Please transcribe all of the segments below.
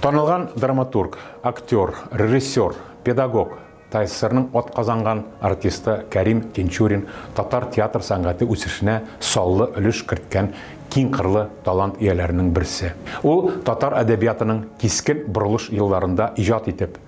Танылган драматург, актер, режиссер, педагог, ТССРның атказанган артисты Кәрим Тинчурин татар театр сәнгате үсешенә саллы өлеш керткән киң кырлы талант ияләренең берсе. Ул татар әдәбиятының кискен борылыш елларында иҗат итеп,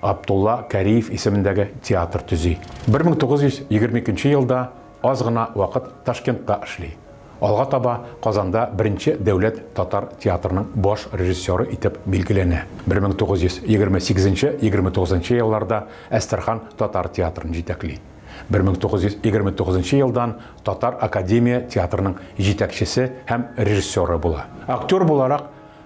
Абдулла Кәриев исемендәге театр төзи. 1922 елда аз гына вакыт Ташкентта эшли. Алга таба Казанда беренче дәүләт татар театрының баш режиссеры итеп билгеләнә. 1928-29 елларда Әстерхан татар театрын җитәкли. 1929 елдан Татар академия театрының җитәкчесе һәм режиссеры була. Актер буларак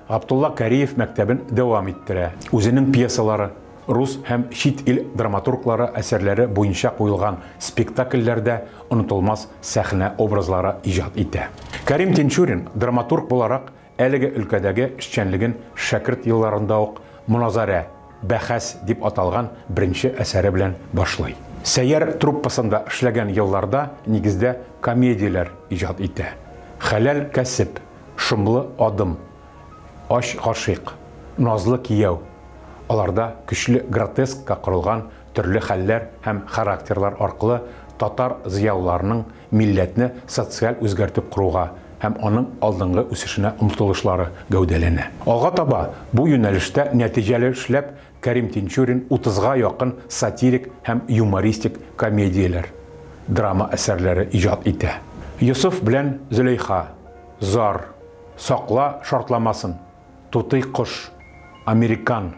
Габдулла Кариев мәктәбен дәвам иттерә. Үзенең пьесалары, рус һәм чит ил драматурглары әсәрләре буенча куелган спектакльләрдә онытылмас сәхнә образлары иҗат итә. Кәрим Тинчурин драматург буларак әлеге өлкәдәге эшчәнлеген шәкерт елларында ук Моназарә, бәхәс дип аталган беренче әсәре белән башлый. Сәйяр труппасында эшләгән елларда нигездә комедияләр иҗат итә. Хәләл кәсеп, Шомлы адым, ач гашыйк, назлы кияү, аларда көчле гротескка корылган төрле хәлләр һәм характерлар аркылы татар зыялыларының милләтне социаль үзгәртеп коруга һәм аның алдынгы үсешенә омтылышлары гәүдәләнә. Алга таба бу юнәлештә нәтиҗәле эшләп Кәрим Тинчурин утызга якын сатирик һәм юмористик комедияләр, драма әсәрләре иҗат итә. Йосыф белән Зөләйха, Зар, сакла шартламасын, Тутый кош, Американ,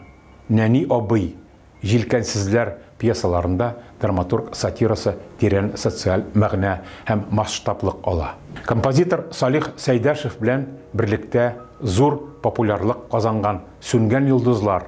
Нәни абый, Җилкәнсезләр пьесаларында драматург сатирасы тирән социаль мәгънә һәм масштаблык ала. Композитор Салих Сәйдәшев белән берлектә зур популярлык казанган Сүнгән йолдызлар,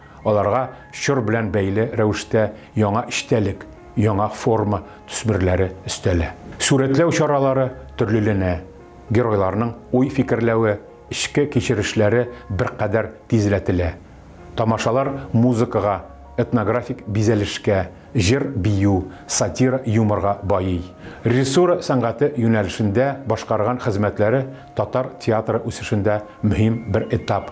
Аларга чор белән бәйле рәвештә яңа эчтәлек, яңа форма төсмерләре өстәлә. Сурәтләү чаралары төрлеләнә, геройларның уй-фикерләве, эчке кичерешләре беркадәр тизләтелә. Тамашалар музыкага, этнографик бизәлешкә, җыр-бию, сатира-юморга байый. Режиссура сәнгате юнәлешендә башкарган хезмәтләре татар театры үсешендә мөһим бер этап.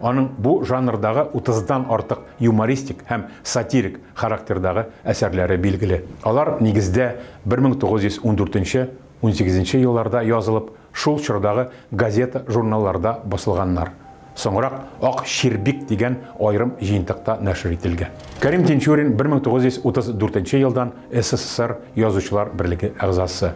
Аның бу жанрдагы утыздан артык юмористик һәм сатирик характердагы әсәрләре билгеле. Алар, нигездә, 1914-унсигезенче елларда язылып, шул чордагы газета-журналларда басылганнар. Соңрак Ак чирбик дигән аерым җыентыкта нәшер ителгән. Кәрим Тинчурин, 1934 елдан СССР Язучылар берлеге әгъзасы.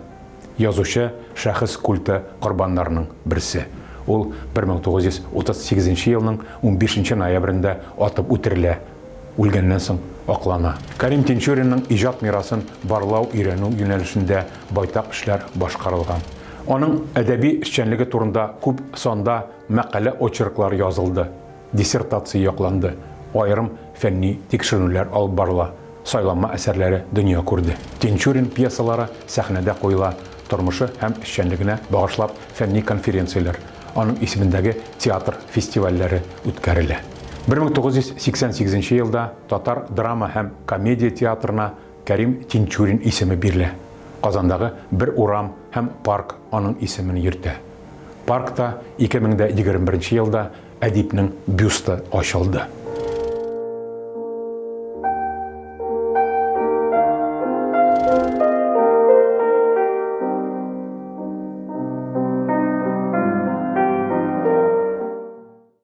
Язучы шәхес культы корбаннарының берсе. Ул 1938 елның 15 нче ноябрендә атып үтерелә, үлгәннән соң аклана. Кәрим Тинчуринның иҗат мирасын барлау-өйрәнү юнәлешендә байтак эшләр башкарылган. Аның әдәби эшчәнлеге турында күп санда мәкалә-очерклар язылды. Диссертация якланды, аерым фәнни тикшеренүләр алып барыла, сайланма әсәрләре дөнья күрде. Тинчурин пьесалары сәхнәдә куела, тормышы һәм эшчәнлегенә багышлап фәнни конференцияләр, аның исемендәге театр фестивальләре үткәрелә. Бер мең тугыз йөз сиксән сигезенче елда татар драма һәм комедия театрына Кәрим Тинчурин исеме бирелә. Казандагы бер урам һәм парк аның исемен йөртә. Паркта ике мең дә егерме беренче елда Әдипнең бюсты ачылды.